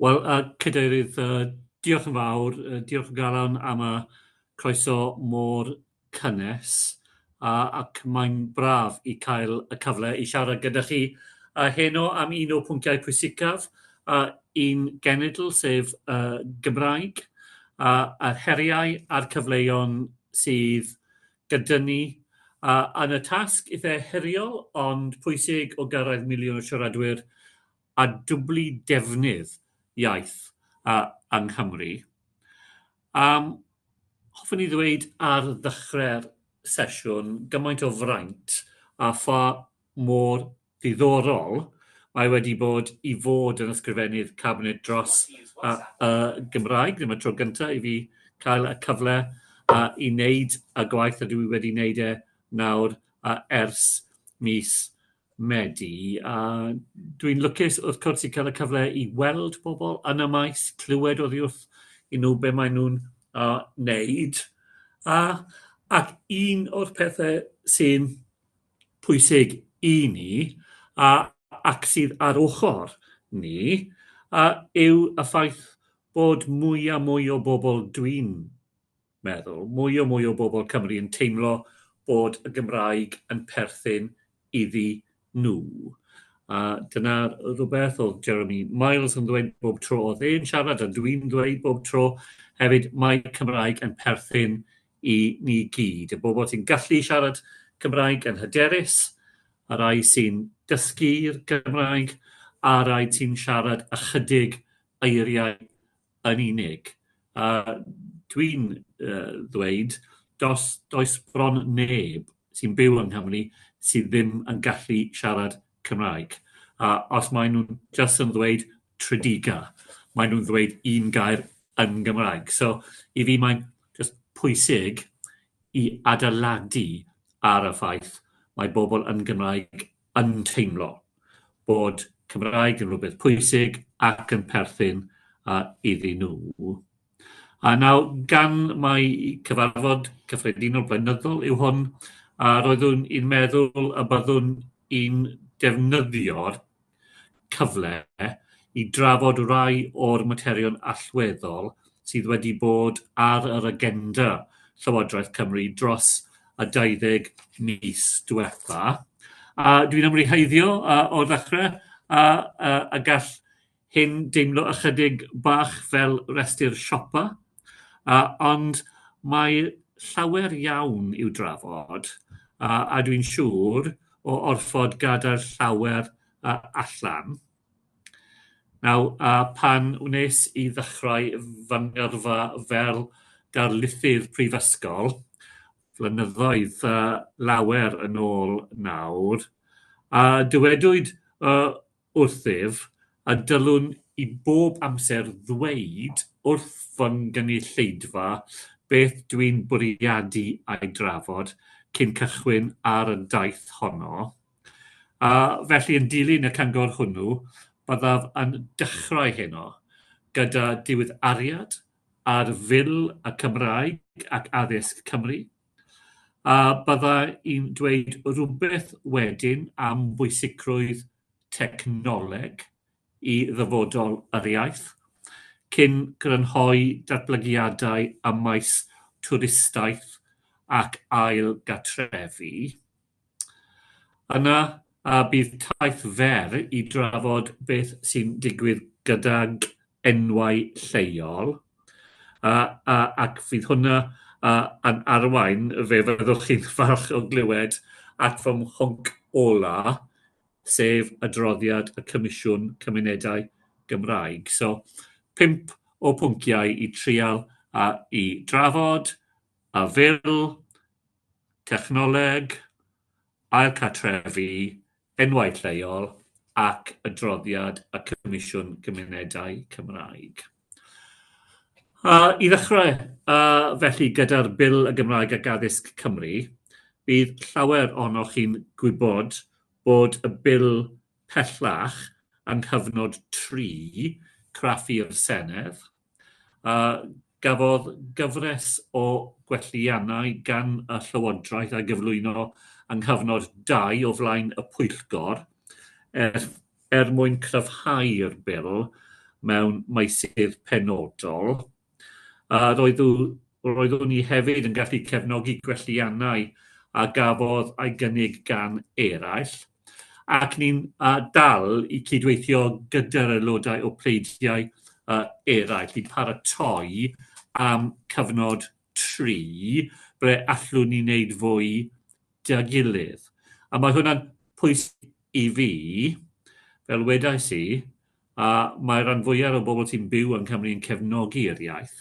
Wel, uh, Cadeirydd, uh, diolch yn fawr, uh, diolch yn galon am y croeso mor cynnes, a, ac mae'n braf i cael y cyfle i siarad gyda chi a heno am un o pwnciau pwysicaf a un genedl, sef uh, Gymraeg, a, a'r heriau a'r cyfleon sydd gyda ni, a yn y tasg eitha heriol ond pwysig o gyrraedd miliwn o siaradwyr a dwblu defnydd iaith a, yng Nghymru. Um, hoffwn i ddweud ar ddechrau'r sesiwn gymaint o fraint a pha mor Ddiddorol, mae wedi bod i fod yn Ysgrifennydd Cabinet dros y Gymraeg, ddim y tro gyntaf i fi cael y cyfle i wneud y gwaith a dwi wedi wneud e nawr ers mis Medi. Dwi'n lwcus wrth cwrs i cael y cyfle i weld pobl yn y maes, clywed oddi wrth i nhw be maen nhw'n wneud, ac un o'r pethau sy'n pwysig i ni a ac sydd ar ochr ni a yw y ffaith bod mwy a mwy o bobl dwi'n meddwl, mwy a mwy o bobl Cymru yn teimlo bod y Gymraeg yn perthyn iddi nhw. A dyna rhywbeth oedd Jeremy Miles yn ddweud bob tro oedd e'n siarad a dwi'n ddweud bob tro hefyd mae Cymraeg yn perthyn i ni gyd, y bobl sy'n gallu siarad Cymraeg yn hyderus, y rhai sy'n dysgu'r Gymraeg, a'r rhai sy'n siarad ychydig eiriau yn unig. A dwi'n uh, ddweud, dos, does bron neb sy'n byw yng Nghymru sydd ddim yn gallu siarad Cymraeg. A os maen nhw'n just yn ddweud Tredegar, maen nhw'n ddweud un gair yn Gymraeg. So, i fi mae'n just pwysig i adeiladu ar y ffaith mae bobl yn Gymraeg yn teimlo bod Cymraeg yn rhywbeth pwysig ac yn perthyn uh, iddyn nhw. A nawr, gan mai cyfarfod cyffredinol blynyddol yw hwn, a roeddwn i'n meddwl y byddwn i'n defnyddio'r cyfle i drafod rai o'r materion allweddol sydd wedi bod ar yr agenda Llywodraeth Cymru dros y 20 mis diwetha. A dwi'n ymwneud heiddio uh, o'r ddechrau, a, a, a gall Hi'n deimlo ychydig bach fel rhestr siopa, a, ond mae llawer iawn i'w drafod, a, a dwi'n siŵr o orfod gadael llawer a, allan. Naw, a, pan wnes i ddechrau fy ngyrfa fel darlithydd prifysgol, flynyddoedd a, lawer yn ôl nawr, a, dywedwyd, o, wrthyf a dylwn i bob amser ddweud wrth fy nghynulleidfa beth dwi'n bwriadu ei drafod cyn cychwyn ar y daith honno, a felly yn dilyn y cyngor hwnnw byddaf yn dechrau heno gyda diweddariad ar Fil y Cymraeg ac Addysg Cymru. A bydda i'n dweud rhywbeth wedyn am bwysigrwydd technoleg i ddyfodol yr iaith, cyn grynhoi datblygiadau ym maes twristiaeth ac ail-gatrefi. Yna, a bydd taith fer i drafod beth sy'n digwydd gydag enwau lleol, a, a, ac fydd hwnna a, yn arwain, fe fyddwch chi'n falch o glywed, at fy mhwnc ola, sef adroddiad y Comisiwn Cymunedau Gymraeg. So, pump o pwnciau i trial a i drafod, a fel technoleg, ailcartrefi, enwau lleol ac adroddiad y Comisiwn Cymunedau Cymraeg. Uh, I ddechrau, uh, felly, gyda'r Bil y Gymraeg ac Addysg Cymru, bydd llawer ohonoch chi'n gwybod bod y bil pellach yng nghyfnod 3 craffu'r Senedd, a gafodd gyfres o gwelliannau gan y Llywodraeth a gyflwyno yng nghyfnod dau o flaen y Pwyllgor er, er mwyn cryfhau'r bil mewn meysydd penodol. A roeddw, roeddwn i hefyd yn gallu cefnogi gwelliannau a gafodd ei gynnig gan eraill. ac ni'n uh, dal i cydweithio gyda'r aelodau o pleidiau uh, eraill i paratoi am cyfnod tri ble allwn ni wneud fwy da gilydd. A mae hwnna'n pwysig i fi, fel wedais i, a mae rhan fwyaf o bobl sy'n byw yn Cymru yn cefnogi yr iaith,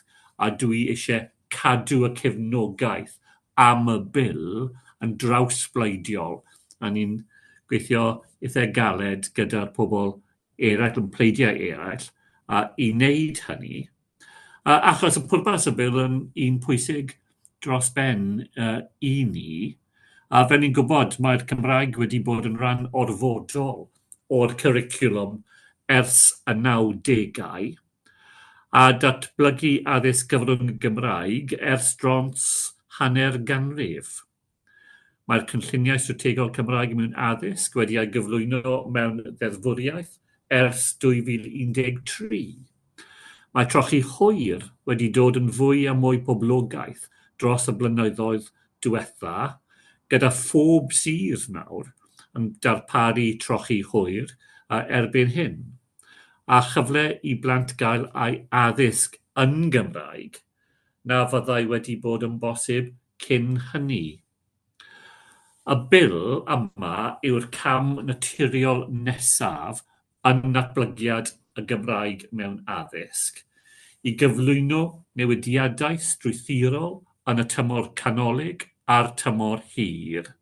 a dwi eisiau cadw y cefnogaeth am y bil yn drawsbleidiol, a ni'n gweithio eitha' galed gyda'r pobl eraill yn pleidiau eraill, a i wneud hynny, Uh, achos y pwrpas y bil yn un pwysig dros ben uh, i ni, a fe ni'n gwybod mae'r Cymraeg wedi bod yn rhan orfodol o'r cwricwlwm ers y 90au, a datblygu addysg gyfrwng y Gymraeg ers drons hanner ganrif. Mae'r cynlluniau strategol Cymraeg mewn addysg wedi ei gyflwyno mewn ddeddfwriaeth ers 2013. Mae trochi hwyr wedi dod yn fwy a mwy poblogaidd dros y blynyddoedd diwetha', gyda phob sir nawr yn darparu trochi hwyr erbyn hyn, a chyfle i blant gael eu addysg yn Gymraeg na fyddai wedi bod yn bosib cyn hynny. Y Bil yma yw'r cam naturiol nesaf yn natblygiad y Gymraeg mewn addysg, i gyflwyno newidiadau strwythurol yn y tymor canolig a'r tymor hir.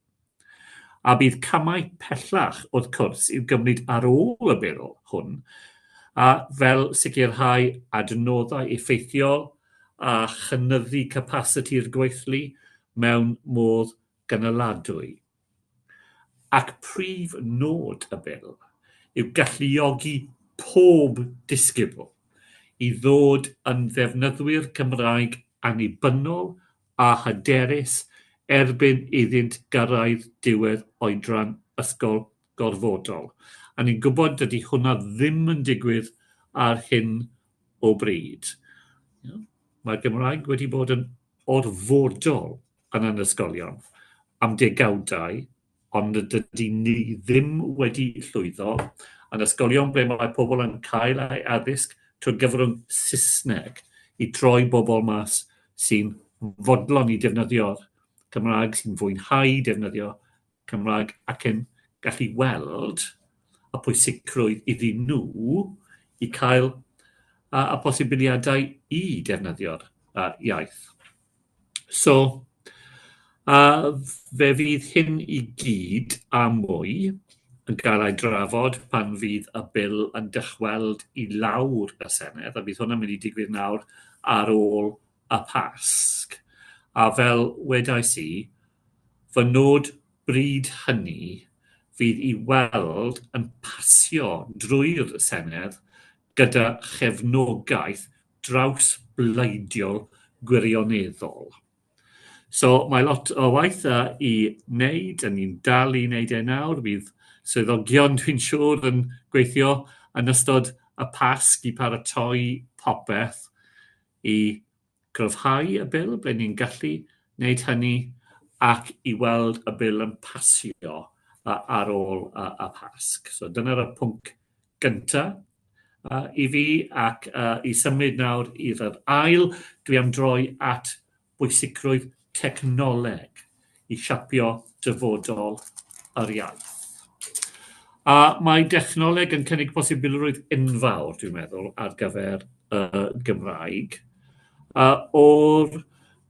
a bydd camau pellach wrth cwrs i'w gymryd ar ôl y Bil hwn, a fel sicrhau adnoddau effeithiol a chynyddu capasiti'r gweithlu mewn modd gynaladwy. Ac prif nod y Bil yw galluogi pob disgybl i ddod yn ddefnyddwyr Cymraeg annibynnol a hyderus erbyn iddynt gyrraedd diwedd oedran ysgol gorfodol. A ni'n gwybod dydy hwnna ddim yn digwydd ar hyn o bryd. Mae'r Gymraeg wedi bod yn orfodol yn yn ysgolion am degawdau, ond dydy ni ddim wedi llwyddo yn ysgolion ble mae pobl yn cael ei addysg trwy gyfrwng Saesneg i troi bobl mas sy'n fodlon i defnyddio'r Cymraeg, sy'n fwynhau defnyddio Cymraeg ac yn gallu weld y pwysigrwydd iddyn nhw i cael y posibiliadau i defnyddio'r iaith. So, a fe fydd hyn i gyd a mwy yn cael ei drafod pan fydd y bil yn dychweld i lawr y Senedd, a bydd hwnna'n mynd i digwydd nawr ar ôl y Pasg. A fel wedais i, fy nod bryd hynny fydd i weld yn pasio drwy'r Senedd gyda chefnogaeth drawsbleidiol gwirioneddol. So mae lot o waith a i wneud, a ni'n dal i wneud e nawr. Bydd swyddogion, dwi'n siŵr, yn gweithio yn ystod y Pasg i paratoi popeth i gryfhau y bil, ble ni'n gallu wneud hynny, ac i weld y bil yn pasio ar ôl y Pasg. So dyna'r pwnc gyntaf uh, i fi ac uh, i symud nawr i'r yr ail, dwi am droi at bwysigrwydd technoleg i siapio dyfodol yr iaith. A mae dechnoleg yn cynnig posibilrwydd enfawr, dwi'n meddwl, ar gyfer y Gymraeg. A o'r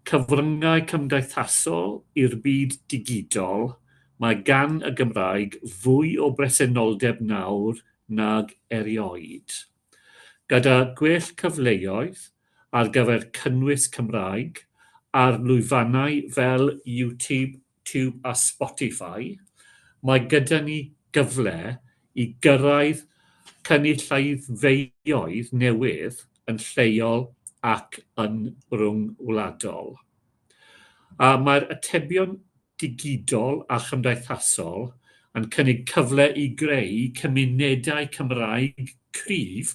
Cyfryngau cymdeithasol i'r byd digidol, Mae gan y Gymraeg fwy o bresenoldeb nawr nag erioed. Gyda gwell cyfleoedd ar gyfer cynnwys Cymraeg ar lwyfannau fel YouTube YouTube a Spotify, mae gyda ni gyfle i gyrraedd cynulleidfaoedd newydd yn lleol ac yn ryngwladol. A mae'r atebion digidol a chymdeithasol yn cynnig cyfle i greu cymunedau Cymraeg cryf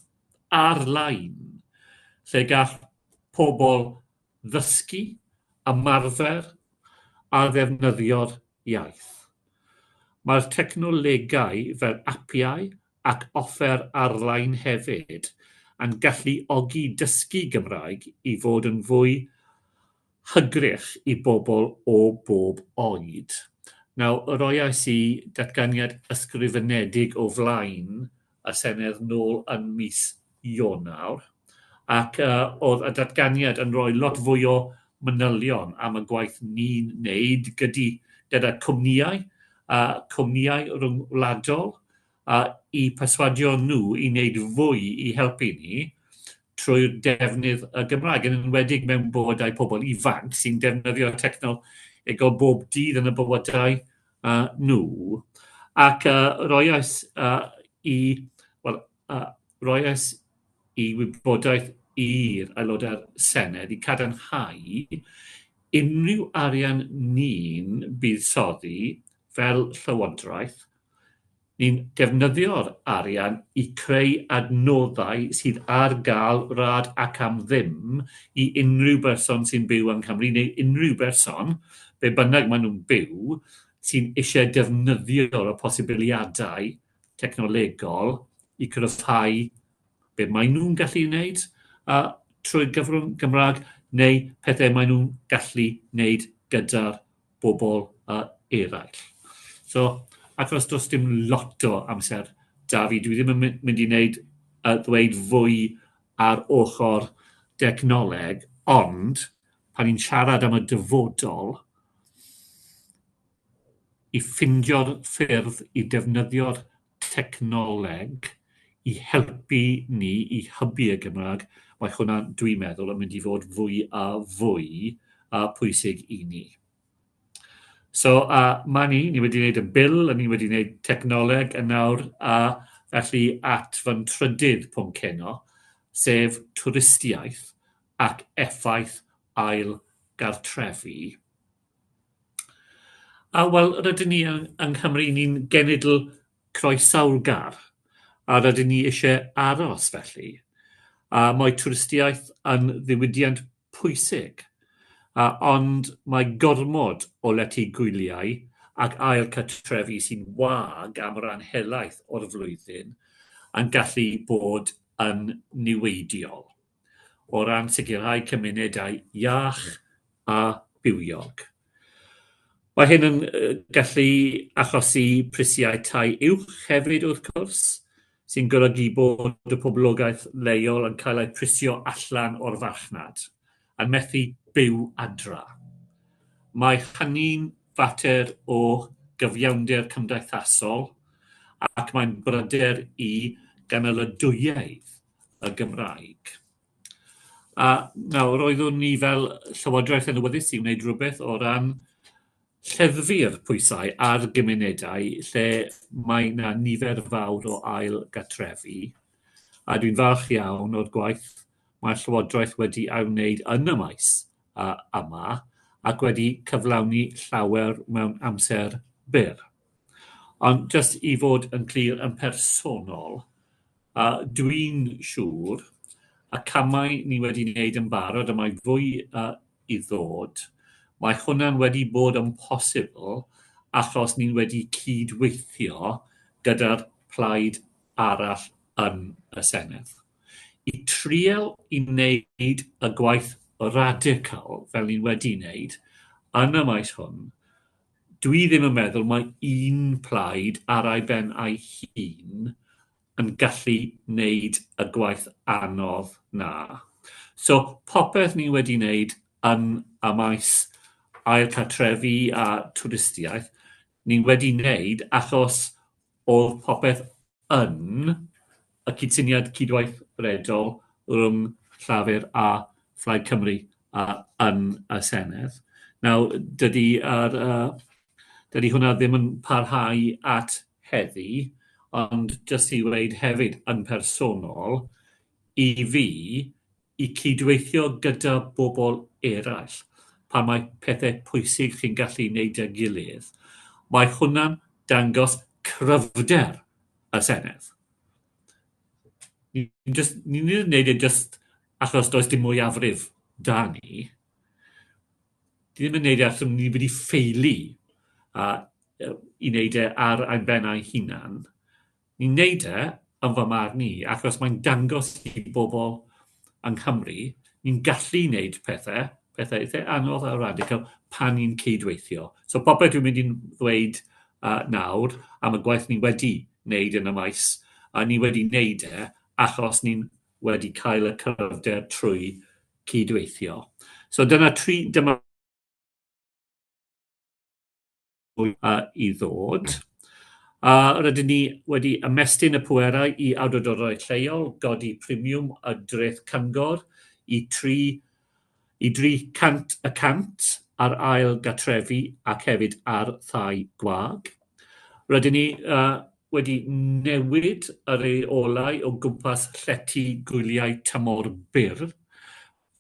ar-lein, lle gall pobl ddysgu, ymarfer a ddefnyddio'r iaith. Mae'r technolegau fel apiau ac offer ar-lein hefyd yn galluogi dysgu Gymraeg i fod yn fwy hygrych i bobl o bob oed. Nawr, roiais i datganiad ysgrifenedig o flaen y Senedd nôl yn mis Ionawr, ac oedd y datganiad yn rhoi lot fwy o manylion am y gwaith ni'n wneud gyda cwmnïau, cwmnïau rhyngwladol, i perswadio nhw i wneud fwy i helpu ni trwy'r defnydd y Gymraeg, yn enwedig mewn bywydau pobl ifanc sy'n defnyddio technolegol bob dydd yn y bywydau uh, nhw, ac uh, roiais uh, i, well, uh, roiais i wybodaeth i'r aelodau'r Senedd i cadarnhau unrhyw arian ni'n buddsoddi fel llywodraeth Ni'n defnyddio'r arian i creu adnoddau sydd ar gael rhad ac am ddim i unrhyw berson sy'n byw yng Nghymru, neu unrhyw berson, be bynnag maen nhw'n byw, sy'n eisiau defnyddio'r posibiliadau technolegol i gryfhau be maen nhw'n gallu wneud a trwy gyfrwng Gymraeg neu pethau maen nhw'n gallu wneud gyda'r bobl uh, eraill. So, achos does dim lot o amser da fi, dwi ddim yn mynd i wneud uh, ddweud fwy ar ochr dechnoleg, ond pan ni'n siarad am y dyfodol, i ffindio'r ffyrdd i defnyddio'r technoleg i helpu ni i hybu y Gymraeg, mae hwnna, dwi'n meddwl, yn mynd i fod fwy a fwy a pwysig i ni. So, a mae ni, ni wedi gwneud y bil, a ni wedi gwneud technoleg yn nawr, a felly at fy trydydd pwnc heno, sef twristiaeth ac effaith ail gartrefi. A, wel, rydyn ni yng yng Nghymru, ni'n genedl croesaw'r gar, a rydyn ni isie aros felly, a mae twristiaeth yn ddiwydiant pwysig, a ond mae gormod o lety gwyliau ac ail cartrefi sy'n wag am ran helaeth o'r flwyddyn yn gallu bod yn niweidiol. o ran sicrhau cymunedau iach a bywiog. Mae hyn yn gallu achosi prisiau tai uwch hefyd wrth cwrs, sy'n golygu bod y poblogaeth leol yn cael eu prisio allan o'r farchnad, a methu byw adra. Mae hynny'n fater o gyfiawnder cymdeithasol ac mae'n bryder i ganolydwyaidd. y Gymraeg. A nawr oeddwn ni fel Llywodraeth yn awyddus i wneud rhywbeth o ran lleddfu'r pwysau ar gymunedau lle mae yna nifer fawr o ail gatrefi. A dwi'n falch iawn o'r gwaith mae'r Llywodraeth wedi ei wneud yn y maes uh, yma ac wedi cyflawni llawer mewn amser byr. Ond jyst i fod yn glir yn personol, dwi'n siŵr y camau ni wedi wneud yn barod a mae fwy i ddod, mae hwnna'n wedi bod yn posibl achos ni wedi cyd-weithio gyda'r plaid arall yn y Senedd i trial i wneud y gwaith radical fel ni wedi wneud yn y maes hwn dwi ddim yn meddwl mae un plaid ar ei ben ei hun yn gallu wneud y gwaith anodd na. So popeth ni wedi wneud yn y maes ail cartrefi a twristiaeth, ni wedi wneud achos oedd popeth yn y cydsyniad cydweithredol rhwng Llafur a Phlaid Cymru yy yn y Senedd. Nawr, dydy yr yy dydy hwnna ddim yn parhau at heddi, ond jyst i weud hefyd yn personol, i fi, i cydweithio gyda bobl eraill pan mae pethau pwysig chi'n gallu ei wneud â gilydd, mae hwnna'n dangos cryfder y Senedd. Ni'n just, ni ddim yn gwneud e just achos does dim mwyafrif da ni. Ni ddim yn gwneud e achos ni wedi ffeili a, i wneud e ar ein bennau hunan. Ni'n wneud e, yn fy marn i, achos mae'n dangos i bobl yng Nghymru ni'n gallu wneud pethau, pethau eitha anodd a radical, pan ni'n cyd-weithio. So popeth dwi'n mynd i'n ddweud uh, nawr am y gwaith ni wedi wneud yn y maes, a ni wedi wneud e achos ni'n wedi cael y cryfder trwy cyd-weithio. So dyna tri, dyma uh, i ddod. A rydyn ni wedi ymestyn y pwerau i awdurdodau lleol, godi premiwm y dreth cyngor i 3 i 300 y cant ar ail gatrefi ac hefyd ar thai gwag. Rydyn ni uh, wedi newid y reolau o gwmpas llety gwyliau tymor byr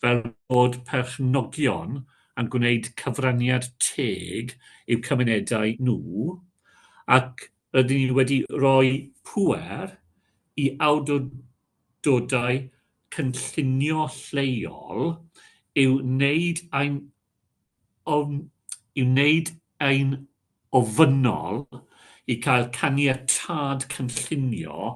fel bod perchnogion yn gwneud cyfraniad teg i'w cymunedau nhw, ac rydyn ni wedi rhoi pŵer i awdurdodau cynllunio lleol i'w wneud yn ofynnol i gael caniatâd cynllunio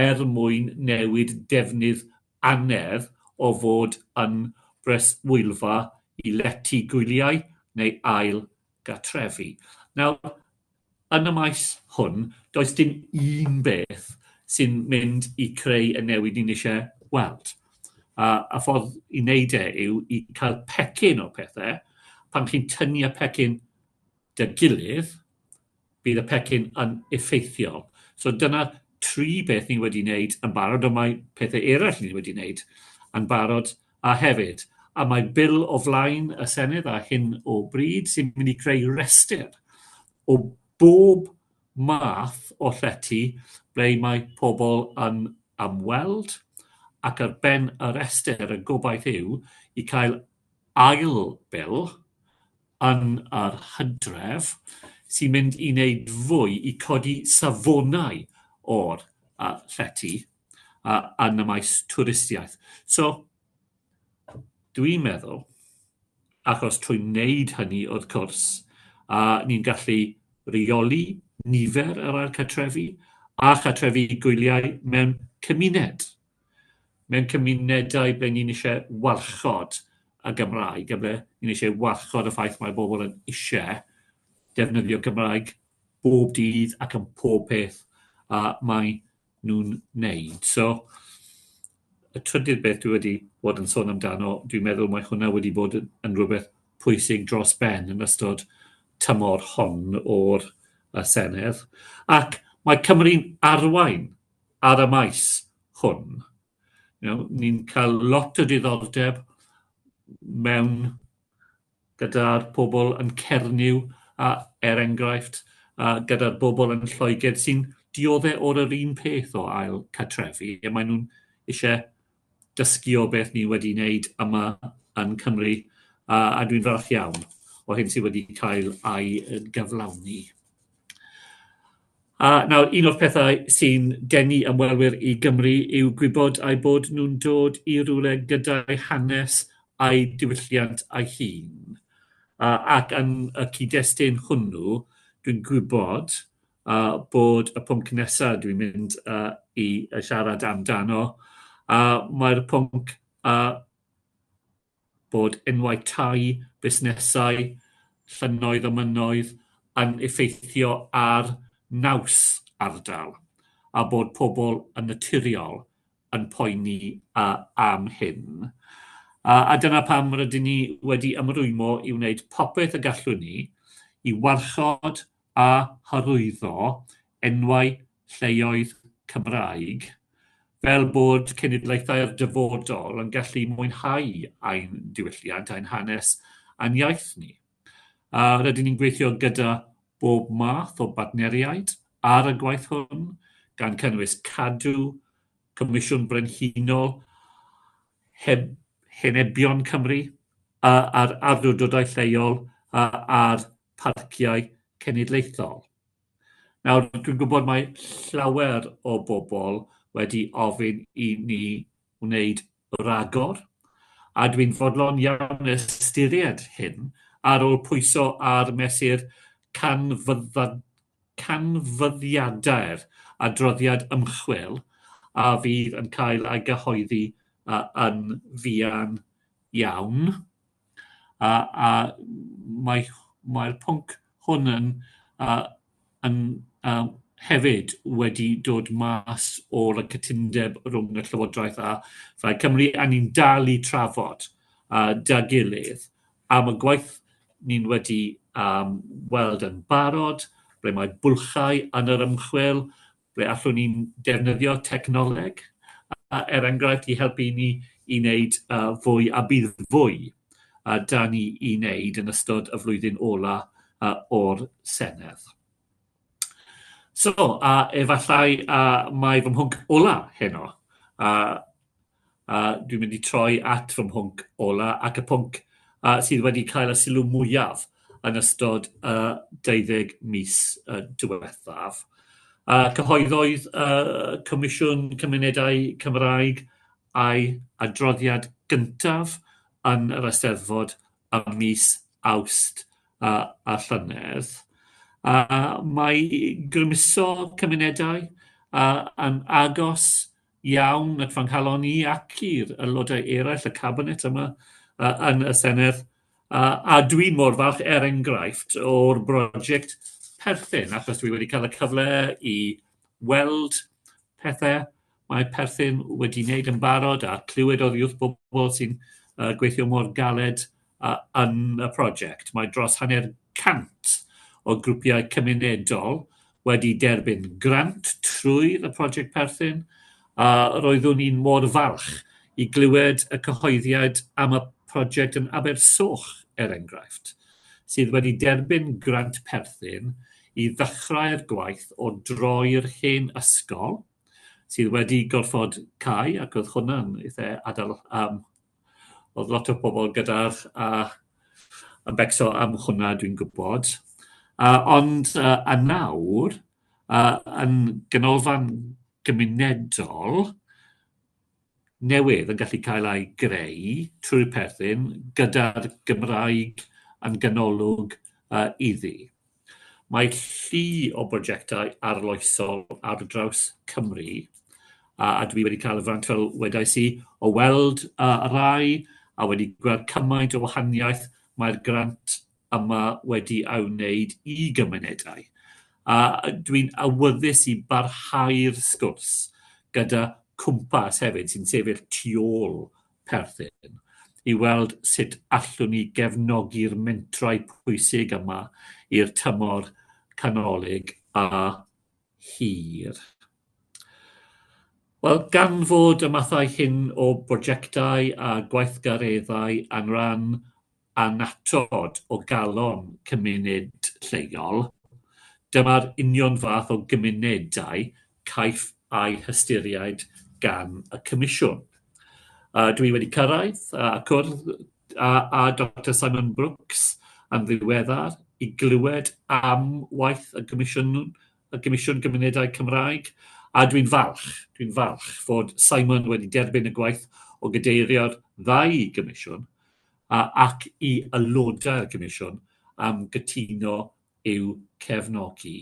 er mwyn newid defnydd angerdd o fod yn breswylfa i lety gwyliau neu ail gartrefi. Nawr, yn y maes hwn, does dim un beth sy'n mynd i creu y newid ni'n eisiau weld. A, a ffordd i wneud e yw i cael pecyn o pethau, pan chi'n tynnu y pecyn dy gilydd, bydd y pecyn yn effeithiol. So dyna tri beth ni wedi wneud yn barod, ond mae pethau eraill ni wedi wneud yn barod a hefyd. A mae bil o flaen y Senedd a hyn o bryd sy'n mynd i creu rhestr o bob math o llety ble mae pobl yn ymweld ac ar ben y rhestr y gobaith yw i cael ail bil yn yr hydref sy'n mynd i wneud fwy i codi safonau o'r uh, llety uh, yn y maes twristiaeth. So, dwi'n meddwl, achos trwy wneud hynny, wrth cwrs, uh, ni'n gallu reoli nifer yr ail cartrefi a chartrefi gwyliau mewn cymuned. mewn cymunedau ble ni'n eisiau warchod y Gymraeg, a ble ni'n eisiau warchod y ffaith mae bobl yn eisiau defnyddio Cymraeg bob dydd ac yn pob peth a mae nhw'n wneud. So, y trydydd beth dwi wedi bod yn sôn amdano, dwi'n meddwl mae hwnna wedi bod yn, yn rhywbeth pwysig dros ben yn ystod tymor hon o'r y Senedd. Ac mae Cymru'n arwain ar y maes hwn. You know, ni'n cael lot o diddordeb mewn gyda'r pobl yn Cernyw, a, er enghraifft, a gyda'r bobl yn Lloegr sy'n dioddau o'r yr un peth o ail catrefi, a maen nhw'n eisiau dysgu o beth ni wedi wneud yma yn Cymru, a, a dwi'n falch iawn o hyn sydd wedi cael ei gyflawni. A nawr, un o'r pethau sy'n denu ymwelwyr i Gymru yw gwybod ai bod nhw'n dod i rywle gyda'i hanes a'i diwylliant a'i hun. A, ac yn y cyd-destun hwnnw, dwi'n gwybod a bod y pwnc nesaf dwi'n mynd uh, i siarad amdano, a mae'r pwnc a bod enwau tai, busnesau, llynnoedd a mynnoedd yn effeithio ar naws ardal a bod pobl yn naturiol yn poeni a, am hyn. A, a dyna pam rydyn ni wedi ymrwymo i wneud popeth y gallwn ni i warchod a hyrwyddo enwau lleoedd Cymraeg fel bod cenedlaethau'r dyfodol yn gallu mwynhau ein diwylliant, ein hanes a'n iaith ni. A rydyn ni'n gweithio gyda bob math o bartneriaid ar y gwaith hwn, gan cynnwys Cadw, Comisiwn Brenhinol Heb Henebion Cymru a'r Awdurdodau Lleol a'r parciau cenedlaethol. Nawr, dwi'n gwybod mae llawer o bobl wedi ofyn i ni wneud ragor, a dwi'n fodlon iawn ystyried hyn ar ôl pwyso ar mesur canfyddiadau'r adroddiad ymchwil a fydd yn cael ei gyhoeddi yn fuan iawn. A, a mae'r mae pwnc hwn yn, uh, yn uh, hefyd wedi dod mas o'r cytundeb rhwng y Llywodraeth a Phaid Cymru, a ni'n dal i trafod uh, da gilydd am y gwaith ni'n wedi um, weld yn barod, ble mae bwlchau yn yr ymchwil, ble allwn ni defnyddio technoleg, er enghraifft, i helpu ni i wneud fwy, a bydd fwy 'da ni i wneud yn ystod y flwyddyn ola' o'r Senedd. So, a efallai mai fy mhwnc ola' heno, A dwi'n mynd i troi at fy mhwnc ola ac y pwnc uh, sydd wedi cael y sylw mwyaf yn ystod y uh, 20 mis uh, diwethaf. Uh, cyhoeddoedd uh, Comisiwn Cymunedau Cymraeg a'i adroddiad gyntaf yn yr Eisteddfod y mis awst uh, a llynedd. Uh, mae grymuso cymunedau uh, yn agos iawn at fy nghalon i ac i'r aelodau eraill y Cabinet yma yn y Senedd, a dwi mor falch, er enghraifft, o'r brosiect perthyn, achos dwi wedi cael y cyfle i weld pethau mae perthyn wedi wneud yn barod a clywed oddi wrth bobl sy'n gweithio mor galed yn y prosiect, mae dros hanner cant o grwpiau cymunedol wedi derbyn grant trwy y prosiect perthyn, a roeddwn i'n mor falch i glywed y cyhoeddiad am y prosiect yn Abersoch, er enghraifft, sydd wedi derbyn grant perthyn i ddechrau'r gwaith o droi'r hen ysgol, sydd wedi gorfod cau ac oedd hwnna'n eitha' adl- yym Oedd lot o bobl gyda a yn becso am hwnna dwi'n gwybod. Yy ond yy a nawr yy yn ganolfan gymunedol newydd yn gallu cael ei greu trwy'r perthyn gyda'r Gymraeg yn ganolog yy iddi. Mae llu o brojectau arloesol ar draws Cymru, a, a dwi wedi cael y fraint, fel wedais i, o weld uh, y rai a wedi gweld cymaint o wahaniaeth mae'r grant yma wedi ei wneud i gymunedau. A dwi'n awyddus i barhau'r sgwrs gyda cwmpas hefyd sy'n sefyll tu ôl perthyn i weld sut allwn ni gefnogi'r mentrau pwysig yma i'r tymor canolig a hir. Wel, gan fod y mathau hyn o brojectau a gweithgareddau yn rhan annatod o galon cymuned lleol, dyma'r union fath o gymunedau caiff eu hystyried gan y Comisiwn. Dwi wedi cyrraedd a cwrdd â Doctor Simon Brooks yn ddiweddar i glywed am waith y Comisiwn, y Comisiwn Gymunedau Cymraeg, a dwi'n falch, dwi'n falch fod Simon wedi derbyn y gwaith o gadeirio'r ddau gomisiwn, ac i aelodau'r Comisiwn am gytuno i'w cefnogi.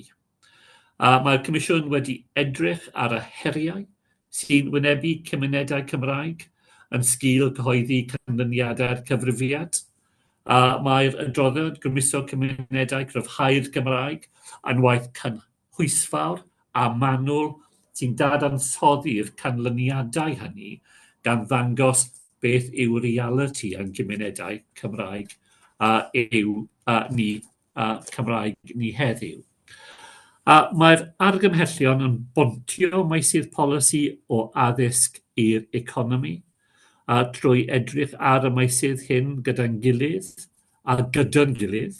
Mae'r Comisiwn wedi edrych ar y heriau sy'n wynebu cymunedau Cymraeg yn sgil cyhoeddi canlyniadau'r cyfrifiad. Mae'r adroddiad Grymuso Cymunedau, Cryfhau'r Gymraeg a'n Waith Cynllunio pwysfawr a manwl sy'n dadansoddi'r canlyniadau hynny, gan ddangos beth yw realiti ein cymunedau Cymraeg a yw a ni a Cymraeg ni heddiw. A mae'r argymhellion yn bontio meysydd polisi o addysg i'r economi, a trwy edrych ar y meysydd hyn gyda'n gilydd, a gyda'n gilydd,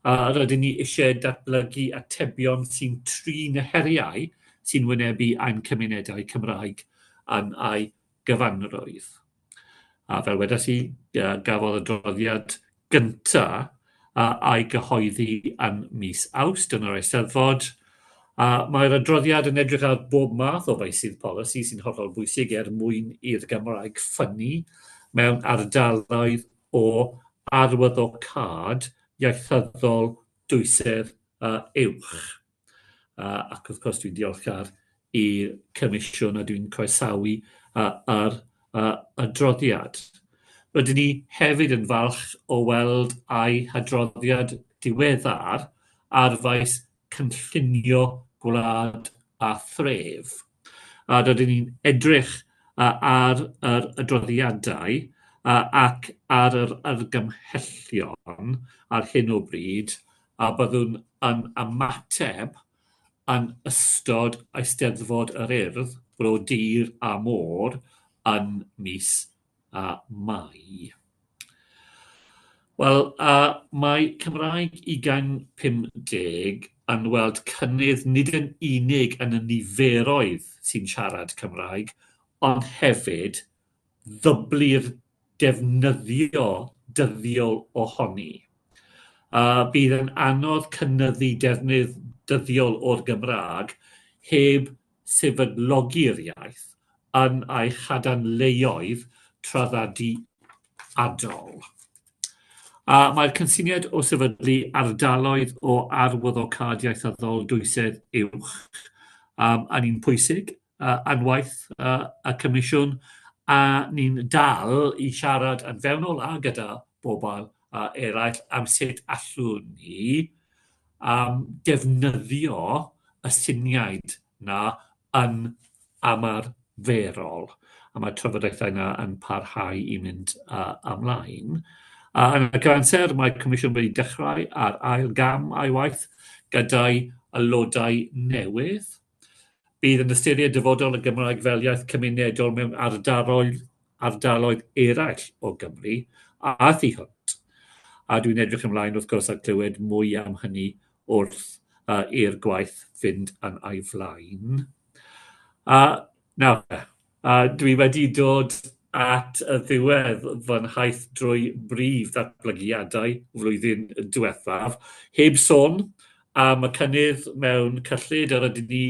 a rydyn ni eisiau datblygu atebion sy'n trin y heriau sy'n wynebu ein cymunedau Cymraeg yn ei gyfanrwydd. A fel wedes i, gafodd y droddiad gynta a a'i gyhoeddi yn mis Awst yn yr Eisteddfod, a mae'r adroddiad yn edrych ar bob math o feysydd polisi sy'n hollol bwysig er mwyn i'r Gymraeg ffynnu mewn ardaloedd o arwyddocâd ieithyddol dwysedd a uwch. A, ac wrth gwrs dwi'n diolchgar i Comisiwn a dwi'n croesawu a, ar a, adroddiad. Rydyn ni hefyd yn falch o weld a'i hadroddiad diweddar ar faes cynllunio gwlad a thref. a rydyn ni'n edrych ar yr adroddiadau ac ar yr argymhellion ar hyn o bryd a byddwn yn ymateb yn ystod Eisteddfod yr Urdd, Bro Dur a Môr yn mis a mai. Wel, a mae Cymraeg ugain 50 yn weld cynnydd nid yn unig yn y niferoedd sy'n siarad Cymraeg, ond hefyd ddyblu'r defnyddio dyddiol ohoni. A bydd yn anodd cynnyddu defnydd dyddiol o'r Gymraeg heb sefydlogi'r iaith yn ei chadarnleoedd traddodiadol. A mae'r cynsyniad o sefydlu ardaloedd o arwyddocâd ieithyddol dwysedd uwch um, yn un pwysig uh, anwaith uh, y Comisiwn, a ni'n dal i siarad yn fewnol a gyda bobl uh, eraill am sut allwn ni am ddefnyddio y syniad 'na yn ymarferol, a mae'r trafodaethau 'na yn parhau i mynd uh, ymlaen. Uh, yn y cyfanser, mae Comisiwn wedi dechrau ar ail gam a'i waith gyda'i aelodau newydd, Bydd yn ystyried dyfodol y Gymraeg fel iaith cymunedol mewn ardaloedd, ardaloedd eraill o Gymru a thu hwnt. A dwi'n edrych ymlaen wrth gwrs at glywed mwy am hynny wrth uh, i'r gwaith fynd yn ei flaen. A nawr, A dwi wedi dod at y ddiwedd fy nhaith drwy brif ddatblygiadau flwyddyn diwethaf, heb sôn am y cynnydd mewn cyllid yr ydyn ni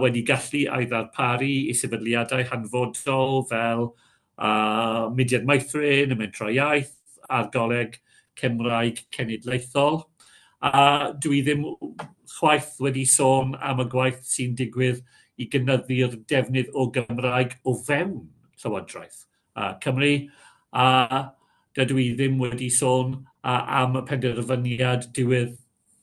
wedi gallu ei ddarparu i sefydliadau hanfodol fel Mudiad Meithrin, y Mentrau Iaith, ar Goleg Cymraeg Cenedlaethol, a dw i ddim chwaith wedi sôn am y gwaith sy'n digwydd i gynyddu'r defnydd o Gymraeg o fewn Llywodraeth uh, Cymru, a dydw i ddim wedi sôn uh, am y penderfyniad diwedd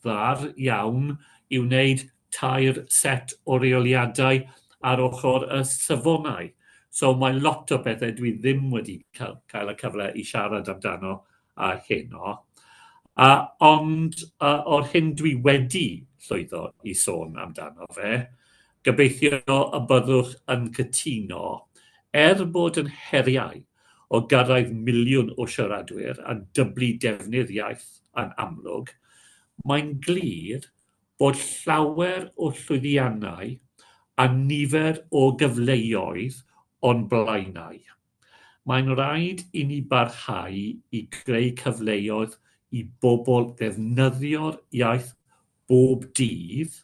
ddiweddar iawn i wneud tair set o reoliadau ar ochr y safonau. So mae lot o bethau dwi ddim wedi cael, cael y cyfle i siarad amdano a heno. A, ond a, o'r hyn dwi wedi llwyddo i sôn amdano fe, gobeithio y byddwch yn cytuno, er bod yn heriau o gyrraedd miliwn o siaradwyr a dyblu defnydd iaith yn amlwg, mae'n glir bod llawer o llwyddiannau a nifer o gyfleoedd o'n blaenau. Mae'n rhaid i ni barhau i greu cyfleoedd i bobl ddefnyddio'r iaith bob dydd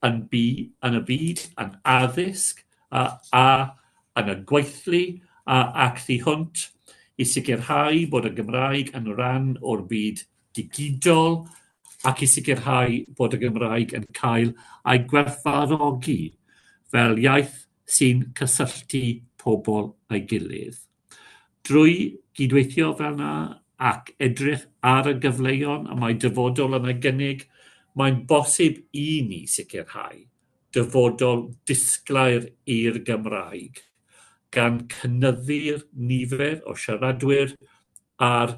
yn yn y byd, yn addysg a a yn y gweithlu a ac thu hwnt, i sicrhau bod y Gymraeg yn ran o'r byd digidol ac i sicrhau bod y Gymraeg yn cael ei gwerthfawrogi fel iaith sy'n cysylltu pobl â'i gilydd. Drwy gydweithio fel yna ac edrych ar y gyfleon y mae dyfodol yn ei gynnig, mae'n bosib i ni sicrhau dyfodol disglair i'r Gymraeg, gan cynyddu'r nifer o siaradwyr a'r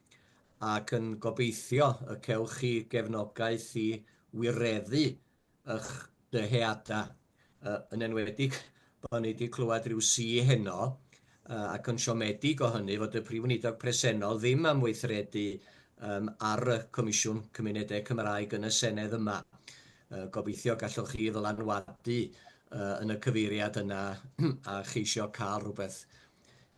ac yn gobeithio y cewch chi gefnogaeth i wireddu y'ch dyheada', yn enwedig pan ni 'di clywed ryw si heno, ac yn siomedig o hynny, fod y Prif Weinidog presennol ddim am weithredu ar y Comisiwn Cymunedau Cymraeg yn y Senedd yma. Gobeithio gallwch chi ddylanwadu yn y cyfeiriad yna a cheisio cael rhywbeth